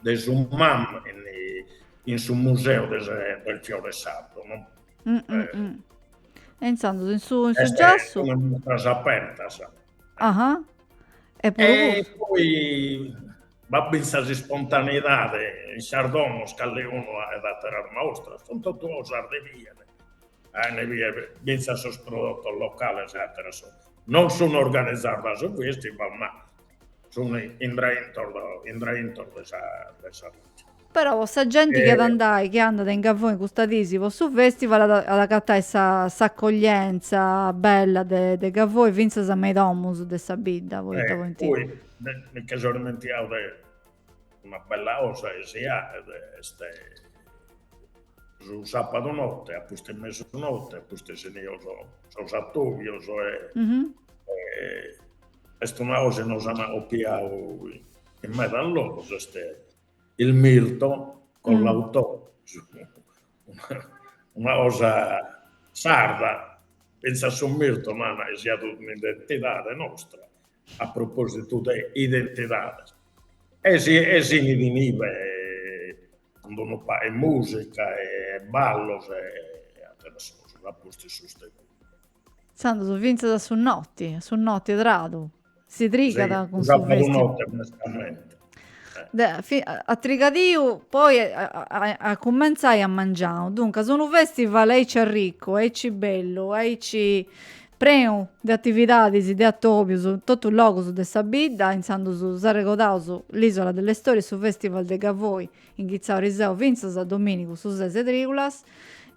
S2: de su Mam in, in su Museu de sa, del Fiore Sardo, no? Mm, mm,
S1: eh, mm. E intzandus in su, in su Giassu... Est in
S2: mustras
S1: apertas.
S2: Aha.
S1: E puru e poi
S2: b'at bintzas ispontaneidade in sas domos calecunu aet ateras mustras, sunt totu cosas de bier, ain bier bintzas sos prodotos locales e ateras cosas. Non sun organizadas dae su festival ma Sunt intro intro de sa de sa bidda. Però po
S1: sa genti chi at a andai, chi andat a in Gavoi custas dis po su festival at at agatai s'accoglienza bella de de Gavoi fintzas me is domus de sa bidda, poita pointi. Poi mi nche
S2: so dimentiau de Una bella osa chi si aet est su sapadu notte a pustis de mesu notte a pustis inios sos atobios e est una osa chi nos an opiau in meda logos est il mirto con l'autore una osa sarda finzas su mirto nana chi siat un'identidade nostra a propositu de identidade e si e si init cun unu pagu 'e musica e ballos e atteras cosas a pustis sustenuta. Intzandus
S1: fintzas a su noti, a su noti 'e tradu, si trigat cun su festival. Si, cun sa pagu
S2: noti
S1: mescamente. at trigadìu poi at cumentzai at mangiau, duncas unu festival aici arricu, aici bellu, aici Prenu de atividadis, de atobius, in totus logus de sa bidda, intzandus s'arregodaus l'Isola delle Storie, su Festival de Gavoi, inghitzau eriseu fintzas a dominigu su ses e triulas,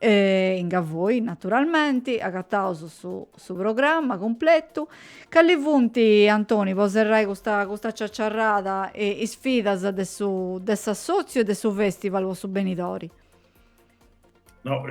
S1: in Gavoi naturalmenti, agataus su su programma cumpletu. Cali funt, Antoni, po serrai custa custa ciaciarrada, is sfidas de su de s'assotziu e de su festival po su benidori?
S2: No,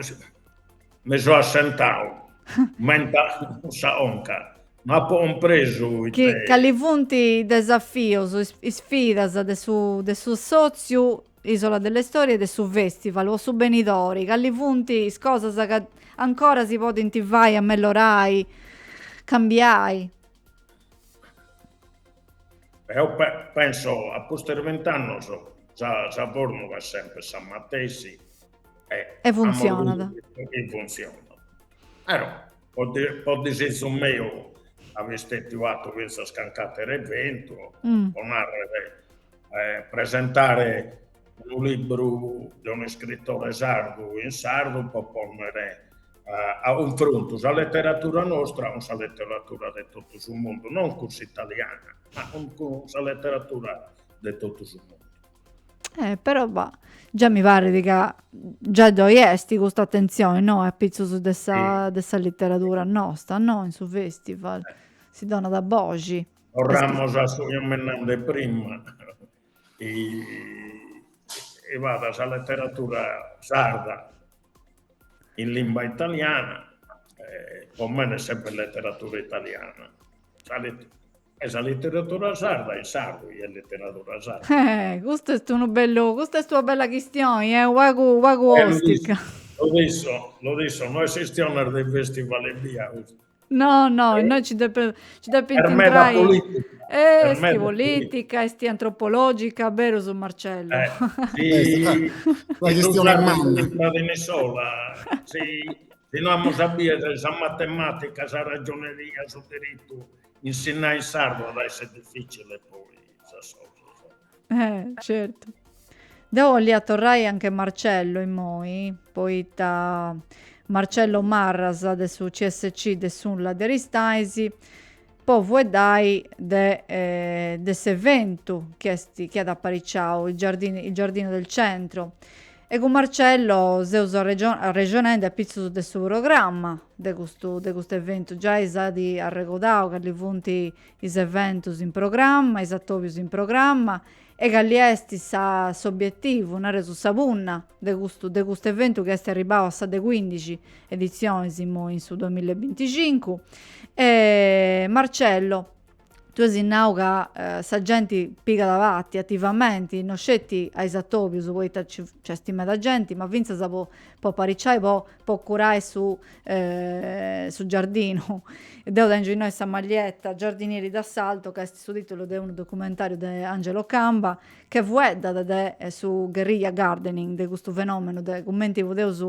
S2: mi so assentau, m'enta sa conca, no apo cumpresu it'est. Cali funt
S1: is desafios, is isfidas de su de su sòtziu Isola delle Storie e de su fèstival po su benidori? Cali funt is cosas ca ancora si podint fai, amellorai, cambiai?
S2: Eo penso a pustis de bint'annos sa formula est sempri sa matessi e
S1: funtzionat. E funtzionat.
S2: Però po disitzu meu aiat istetiu fatu fintzas canc'ateru eventu, po narrer, presentare unu libru de un'iscritore sardu in sardu po ponnere a cunfrontu sa leteratura nostra cun sa leteratura de totu su mundu, non cun s'italiana, ma cun cun sa leteratura de totu su mundu. Eh, però bah,
S1: già mi parit ca già ddoi est custa atentzioni, no, a pitzus de sa, sì. de sa literadura nostra, no, in su festival, si donat boxi. Torramus a su
S2: chi amos nau prima, chi b'at sa leteratura sarda in limba italiana, e po mene est sempre leteratura italiana, sa let e sa leteratura sarda in sardu est leteratura sarda. Eh, custu est unu
S1: bellu, custa est una bella chistioni, eh, unu pagu, unu pagu ostica.
S2: Lo dico, no est chistiones de festival ebbia custu. No,
S1: no, e noi ci depe ci depint Est meda
S2: intrai polìtica,
S1: eh, est est meda
S2: polìtica. polìtica,
S1: est antropològica, beru su Marcello. Eh, si
S3: Est una una si non chistione manna. iscrita in iscola,
S2: si si no amus a biere sa matematica, sa ragioneria, su diritu, insinnai in sardu at a essi difficile poi.
S1: Eh, certu. Deu 'ollia torrai anche Marcello immoi, poita Marcello Marras de su CSC de s'UNLA de Aristaisi, po fueddai de, eh, de s'eventu chi est, chi at apariciau, il giardino, il giardino del centro. E cun Marcello seus arregio- arrexonendi apitzus de su programma de custu, de cust'eventu. Giai s'at arregodau cali funt is eventus in programma, is atòbius in programma e calli est sa s'obietivu, nareus sa punna, de custu de custu eventu chi est arribau a sa de cuindixi editzionis immoi in su duamilla e binticincu. Marcello, tue as nau ca sa genti pigat parti ativamenti, no sceti a is atòbius poita nci nc'est meda genti, ma fintzas po po apariciai po po curai su su giardinu. Deu tèngio innoi sa maglietta Giardinieri d'assalto ca est su tìtulu de unu documentàriu de Angelo Camba chi fueddat de su guerrilla gardening, de custu fenòmenu de cumenti podeus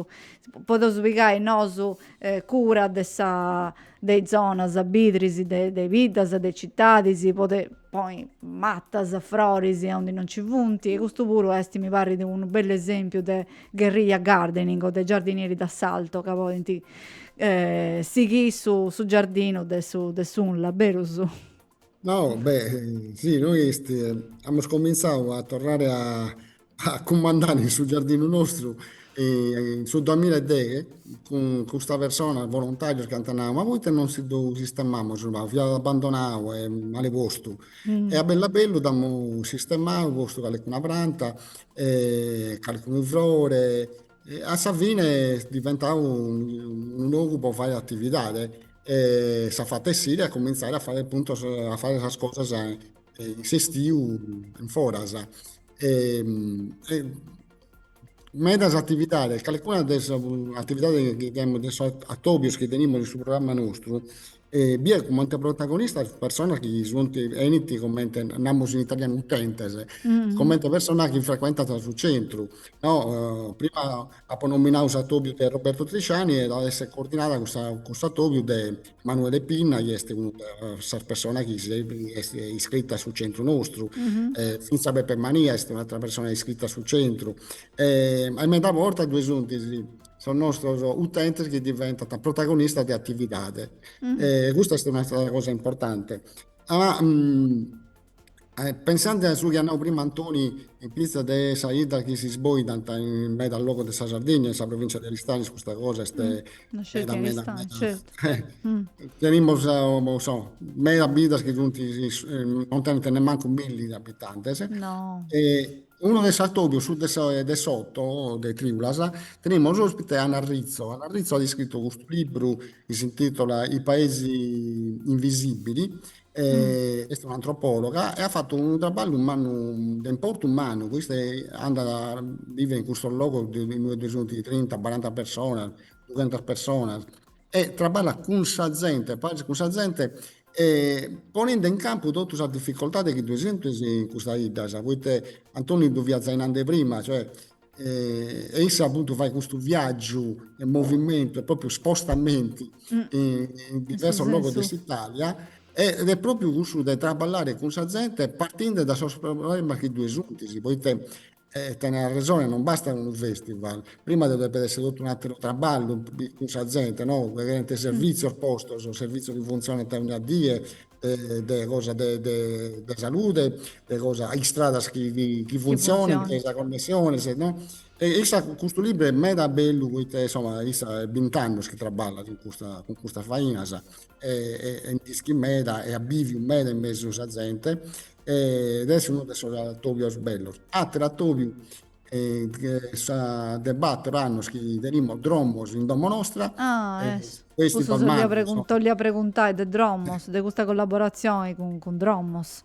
S1: podeus pigai nosu cura de sa de is zonas bidris de de biddas de citadis po de ponni matas froris aundi non ci funt e custu puru est mi parrit unu bellu esempiu de guerrilla gardening o de giardinieri d'assalto ca podit sighiri su giardinu de su de s'unla berus
S3: No, beh, si, nois amus comintzau a torrare a, a cumandare in su giardinu nostru e in su duamilla e deghe cun custas personas, volontàrios chi ant nau, ma poita non si ddu sistemamus unu pagu, fiat abandonau e male postu. E a bellu a bellu dd'amus sistemau, postu calicuna pranta e calicunu frore A sa fine est diventau unu logu po faere atividade e s'at fatu essiri a cumintzare a faere apuntu, a faere sas cosas in s'estiu in foras. Medas atividades, calincuna de is atividades chi tenimus de sos atobios chi tenimus in su programma nostru E biet comente protagonistas personas chi sunt, enint comente, namus in italianu, utentes, comente personas chi frecuentant su centru, no? Prima apo nominau s'atobiu de Roberto Trisciani e at esser coordinada custa cuss'atobiu de Manuele Pinna chi est una de sas personas chi est iscrita a su centru nostru e finzas Peppe Mania est un'atera persona iscrita a su centru e medas bortas ddoe suntis sos nostros utentes chi diventant protagonistas de atividade e custa est un'atera cosa importante. A pensende a su chi at nau prima Antoni in pitzus de sas 'iddas chi si isboidant in medas logos de sa Sardigna e in sa provintzia de Aristanis custa cosa est meda
S1: meda
S3: tenimus medas biddas chi sunt non tenent nemmancu milli de abitantes e
S1: Unu
S3: de sos atobios, su de s'oto de Triulas, tenimus ospite Anna Rizzo. Anna Rizzo at iscritu custu libru chi s'intitola I paesi invisibili, est un'antropologa e at fatu unu traballu mannu, de importu mannu, po chi issa andat a biver in custos logos inue ddoe sunt trinta, baranta personas, dughentas personas e traballat cun sa zente, paris cun sa zente e poninde in campu totu sas difficoltades chi ddoe suntis in custas 'iddas, poite Antoni ddu fiat zai nande prima, cioè e e issa appuntu fait custu viaggiu e movimentu e propriu spostamenti in in diversos logos de s'Italia e ed est propriu cussu de traballare cun sa zente partinde da sos problemas chi ddoe suntis, poite E tenes arresone, non bastat unu festival, prima ddoe depet essi totu un'ateru traballu cun sa zente, no, ddoe cherent servitzios postos, servitzios chi funtzionant ognia die, de cosa de de salude, de cosa, istradas chi chi funtzionant, sa connessione, sa no. E issa custu libru est meda bellu poita insoma issa est bint'annus chi traballat in custa cun custas fainas e nd'ischit meda e at biviu meda in mesu 'e sa zente ed est unu de sos atobios bellos. Ateru atobiu de bator annos chi tenimus Dromos in domo nostra. Ah, essu.
S1: Custu t'olia preguntai de Dromos, de custa collaboratzioni cun Dromos.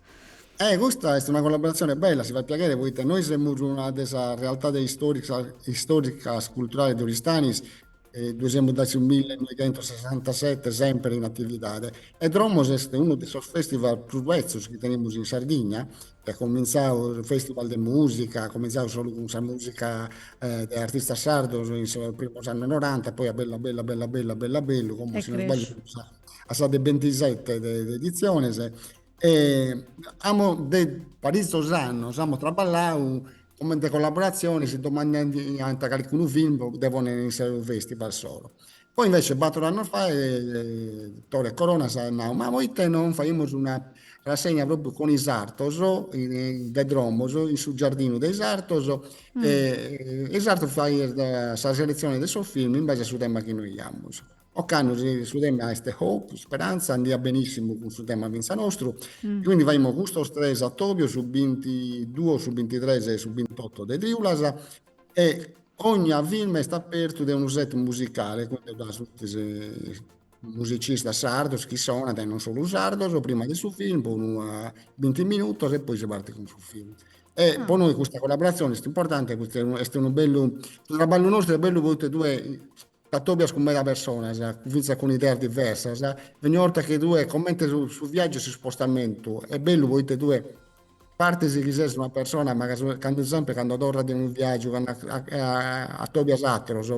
S1: Eh,
S3: custa est una collaboratzione bella, si fait piaghere poita nois semus una de sas realtades istoricas, culturales de Oristanis Ddoe semus dae su millenoigentosessantasete sèmpere in atividade e Dromos est unu de sos fèstival prus betzos chi tenemus in Sardigna, chi at comintzadu, su fèstival de mùsica, at comintzadu solu cun sa mùsica de artistas sardos in sos primos annos noranta e poi at bellu bellu bellu bellu bellu bellu, como si non sbaglio semus a sa de bentisete de editziones e amo de paritzos annos amo traballau Comente collaboratzione si domandaiant calicunu film po dde ponere in su festival soro. Poi invece bator annos faet Tore Corona s'at nau, ma poite non faimus una rassegna propriu cun isartos de Dromos in su giardinu de isartos
S1: e isartos
S3: faiais sa selezione de sos film in base a su tema chi nois giamus. Ocannu su tema est hope, speranza, andiat benissimu cun su tema fintzas nostru, quindi
S1: faimus
S3: custos tres atobios, su bintiduos, su bintitres e su bintotto de triulas e ogna film est apertu de unu set musicale quindi ddoe funtis musicistas sardos chi sonant e non solu sardos prima de su film po unu binti minutos e poi si partit cun su film. E po nois custa collaboratzione
S1: est
S3: importante poita est unu bellu, su traballu nostru est bellu poita tue T'atòbias cun meda personas, fintzas cun ideas diversas, e ogni 'orta chi tue comente su viàgiu e s'ispostamentu, est bellu poita tue partis chi ses una persona, ma candu semper candu torras de unu viàgiu, candu atòbias ateros,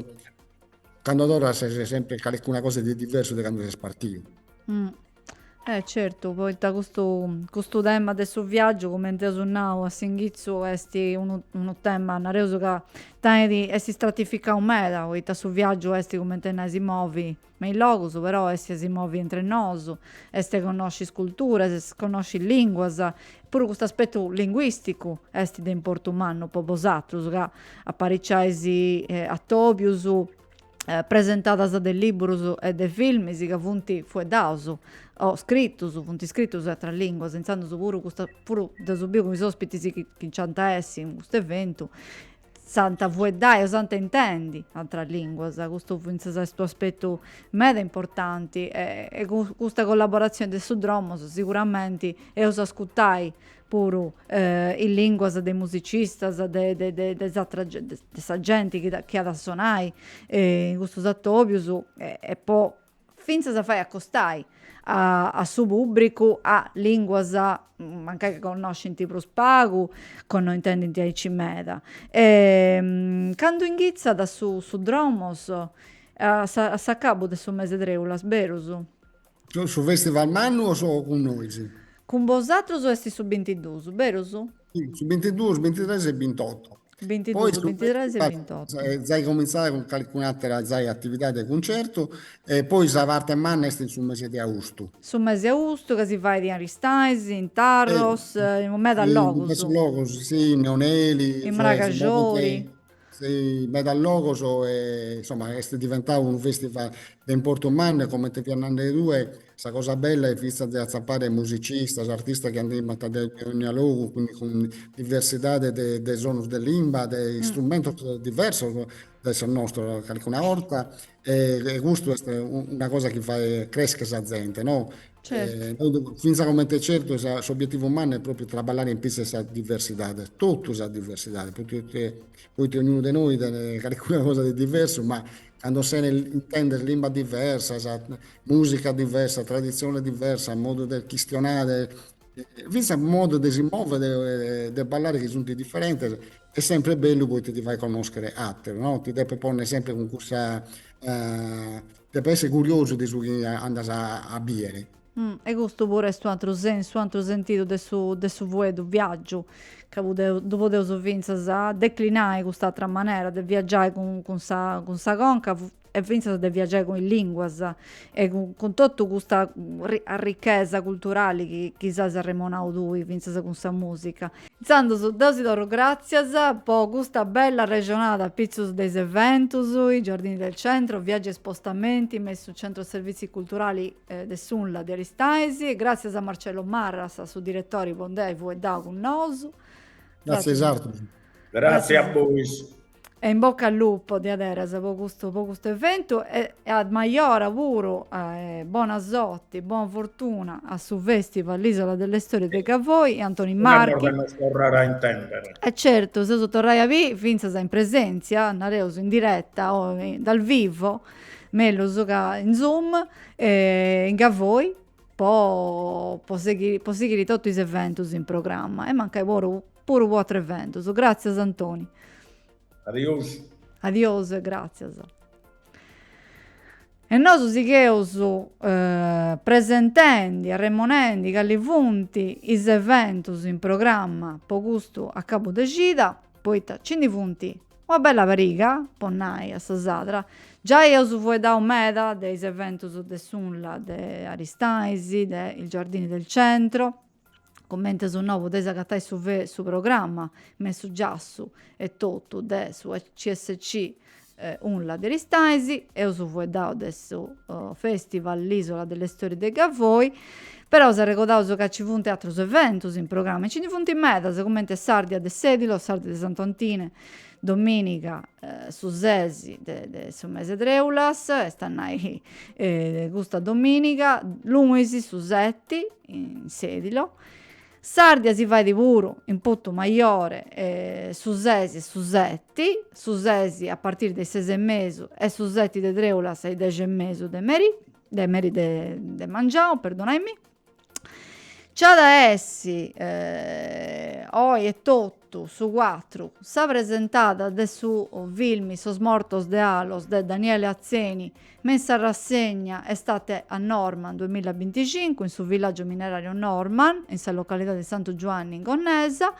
S3: candu torras ses semper calicuna cosa de diversu de candu ses partiu.
S1: Eh certu, poita custu custu tema de su viaggiu cumenti eus nau a s'inghizu esti unu unu tema nareus ca tenidi esti stratificau meda poita su viaggiu esti cumenti a nai si movi me is logus però esti a si movi intri nosu esti a connosci is culturas esti a connosci is linguas puru custu aspettu linguisticu esti de importu mannu po bosatrus ca apariciaisi atobius presentadas de libburus e de filmis ca funt fueddaus o scritus, funt scritus in atras linguas, intzandus puru custa, puru dd'eus biu cun is ospitis chi chi nc'ant a essi in custu eventu, s'ant fueddai o s'ant intendi atras linguas, custu fintzas est u' aspettu meda importanti e custa collaboratzioni de su Dromos siguramenti eus ascurtai puru is lìnguas de is musicistas de sa genti chi at a sonai in custus atòbius e po fintzas a fai acostai a su pùbricu a lìnguas mancai chi connoscint prus pagu, o no intendint aici meda. Candu inghitzat su Dromos a s'acabu de su mes'e treulas, berus?
S3: Su festival mannu o su cun nois? Cun
S1: bosatrus est su bintiduus, berus? Si, su
S3: bintiduus, bintitres e bintotto. Bintiduus,
S1: bintitres e bintotto. Zai
S3: comintzat
S1: cun
S3: calicun'atera zai atividadi de cuncertu e poi sa parte manna est in su mese de austu. Su mese de
S1: austu ca si fait in Aristanis, in Tarros, in
S3: medas
S1: logus. In diversus logus,
S3: si, in Neoneli. In Mragaxori. in medas logos e insomma est diventadu unu festival de importu mannu e comente fias nande tue sa cosa bella est finzas de atzappare musicistas, artistas chi andaiant de dogna logu quindi cun diversidade de sonus de limba, de istrumentos
S1: diversos
S3: de sos nostros calcuna 'orta E custu est una cosa chi fait crescher sa zente,
S1: no. Finza comente
S3: certu s'obietivu mannu est propriu traballare in pitzus 'e sa diversidade, totu sa diversidade, poita ognunu de nois tenet calincuna cosa de diversu, ma cando sene intendes limbas diversas, musica diversa, traditzione diversa, modu de chistionare Fintzas a modos de si mòvere e de ballare chi sunt diferentes est sempri bellu poita ti fait connòschere àteros, no? Ti depes ponni sempri cun cussa, depis essi curiosu de su chi andas a bìdere. E custu
S1: puru est un'ateru sensu, un'ateru sentidu de su de su fueddu, viàgiu, ca ddu podeus fintzas declinai cust'atera manera de viagiai cun sa cun sa conca, e fintzas de viagiai cun is linguas e cun totu custa arrichesa culturali chi chi s'as arremonau tui fintzas cun sa musica. Intzandus deu si torru gràtzias po custa bella arrexonada pitzus de is eventus, i Giardini del Centro, viaggi e spostamenti me in su Centro Servizi Culturali de s'Unla de Aristanis, gràtzias a Marcello Marras, su diretori po nd'ai fueddau cun nosu. Gràtzias
S3: a bosatrus. Gràtzias a
S2: bois. E in
S1: bocca al lupo diaderas po custu po custu eventu e a majora puru bona sorti bona fortuna a su festival l'isola delle storie de Gavoi e Antoni Marchi. Una cosa nos
S2: torrare a intendere. E certu seus
S1: torrai a bì finzas in presentzia nareus in diretta o dal vivo mellus ca in zoom e in Gavoi po po sighiri po sighiri totu is eventus in programma e mancai puru Puru po atrus eventus. Gràtzias Antoni.
S2: Adiosu.
S1: Adiosu e gràtzias. E nosu sigheus presentendi, arremonendi cali funt is eventus in programma po custu acabu de cida, poita nci ndi funt una bella pariga, po nai a sa sadra. Giai eus fueddau meda de is eventus de s'Unla de Aristanis, de il Giardini del Centro, cummente ddu nau podeis agatai su su programma me su giassu etotu de su CSC Unla de Aristanis, eus fueddau de su festival L'isola delle storie de Gavoi, però si arregodaus ca ci funt atrus eventus in programma e ci ndi funt medas cummente s'Ardia de Sedilo, s'Ardia de Santu Antine, dominiga su sesi de su mese de treulas est a nai custa dominiga, lunis su seti in Sèdilo. S'Àrdia si fait puru in Putumajore su sesi e su seti, su sesi a partiri de is ses e mesu e su seti de trèulas a is dexi e mesu de meri de meri de de mengianu perdonaimi. Nc'at a essi oi etotu su cuatru, sa presentada de su filmi Sos mortos de Alos de Daniele Atzeni me in sa rassegna Estate a Normann duamillabinticincu in su villaggiu minerariu Normann, in sa localidadi de Santu Giuanni in Gonnesa.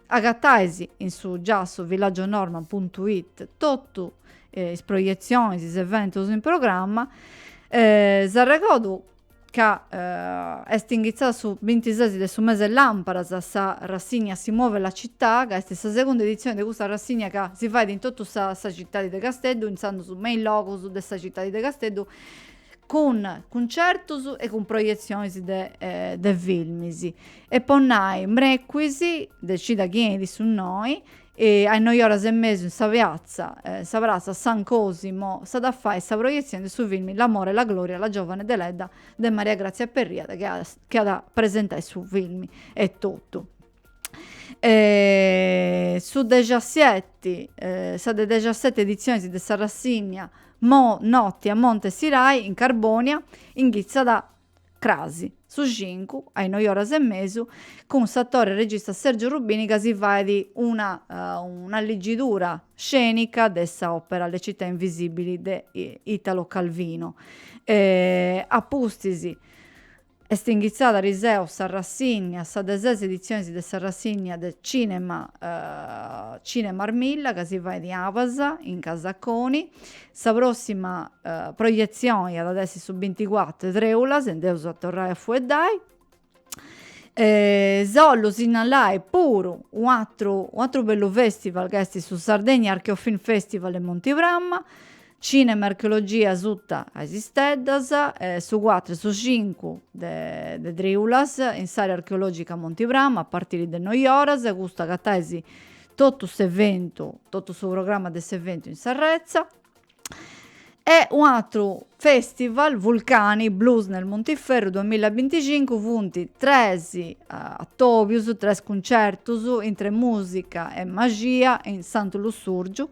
S1: Agatais in su giassu villaggionormann puntu it totu is proietzionis, is eventus in programma. Si arregodu ca est inghitzada su bintises de su mese Làmparas sa rassigna Si muove la città, ca est sa segunda editzione de custa rassigna ca si faet in totu sa sa citadi de Casteddu, intzandus me is logus de sa citadi de Casteddu, cun cuncertus e cun proietzionis de de filmis. E po nai, mrecuis, de cida chi 'enit su noi, E a is noi oras e mesu in sa peatza, sa pratza San Cosimo, s'at a fai sa proietzioni de su filmi L'amore e la gloria, la giovane deledda de Maria Grazia Perria chi at chi at a presentai su filmi etotu. su dexasseti, sa de dexasseti editzionis de sa rassigna Notti a Monte Sirai in Carbonia, inghitzat Crasi. Su cincu, a is noi oras e mesu, cun s'atore e regista Sergio Rubini ca si faet una un'alligidura scenica de sa opera Le città invisibili de Italo Calvino. A pustis est inghitzada ariseu sa rassigna, sa de ses editzionis de sa rassigna de cinema Cinema Armilla ca si faet in Abas in Casa Coni. Sa prossima proietzioni iat a essi su binticuatru 'e trèula, si nd'eus a torrai a fueddai. S'ollu sinnalai puru u' atru u' atru bellu festival ca esti su Sardegna Archeo Film Festival in Monti Pramma, cinema e archeologia suta a is steddas, su cuatru e su cincu de de trèulas in s'area archeologica Monti Pramma a partiri de is noi oras, custu agatais totu s'eventu, totu su programma de s'eventu in s'arretza e un'atru festival Vulcani Blues nel Montiferru 2025 funt tres atobius, tres cuncertus intre musica e maxia in Santu Lussurgiu,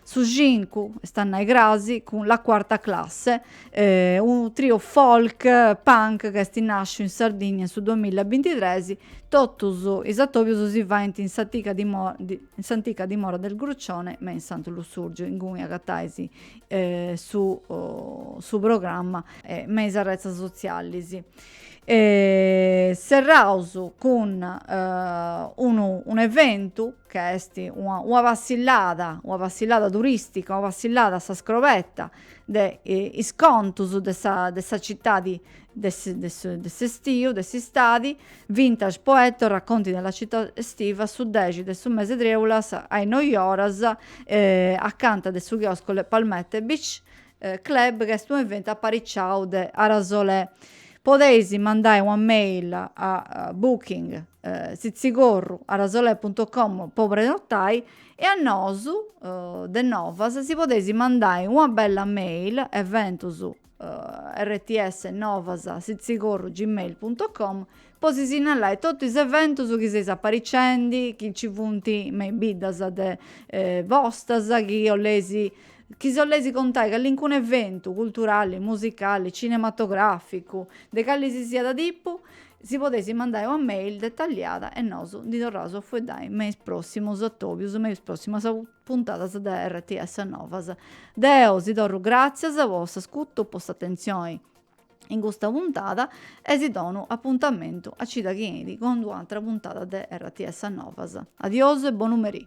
S1: Su cincu, est a nai crasi, cun La Quarta Classe, unu trio folk punk ca est nàsciu in Sardigna in su duamilla e bintitres, totus is atòbius si faint in s'antica in s'antica dimora del Grucione me in Santu Lussùrgiu ingunis agatais su su programma me is arretzas sotzialis. Serraus cun unu un'eventu ca est una passillada, una passillada turistica, una passillada a sa scrobetta de is contus de sa de sa citadi de de s'estiu, de s'istadi, Vintage Poetto, Racconti della città estiva, su dexi de su mese 'e trèulas a is noi oras, acanta de su chiosco Le Palmette Beach Club ca est unu eventu apariciau de Arasolè. Podeis mandai una mail a booking tzitzigorru arasolè punto com po prenotai e a nosu de Novas si podeis mandai una bella mail eventus rts novas tzitzigorru gmail punto com Po si sinnallai totu is eventus chi seis aparicendi, chi nci funt me is biddas de bostas, chi 'oleis, chi si 'oleis contai callincunu eventu, culturali, musicali, cinematograficu, de calli si siat tipu, si podeis mandai una mail detalliada e nosu ndi torraus a fueddai me is prossimus atobius, me is prossimas puntadas de RTS Novas. Deu si torru gratzias po s'ascutu, po s'atentzioni. In custa puntada e si donu appuntamentu a cida chi 'enit cun un'atra puntada de RTS a Novas. Adios e bonu merì.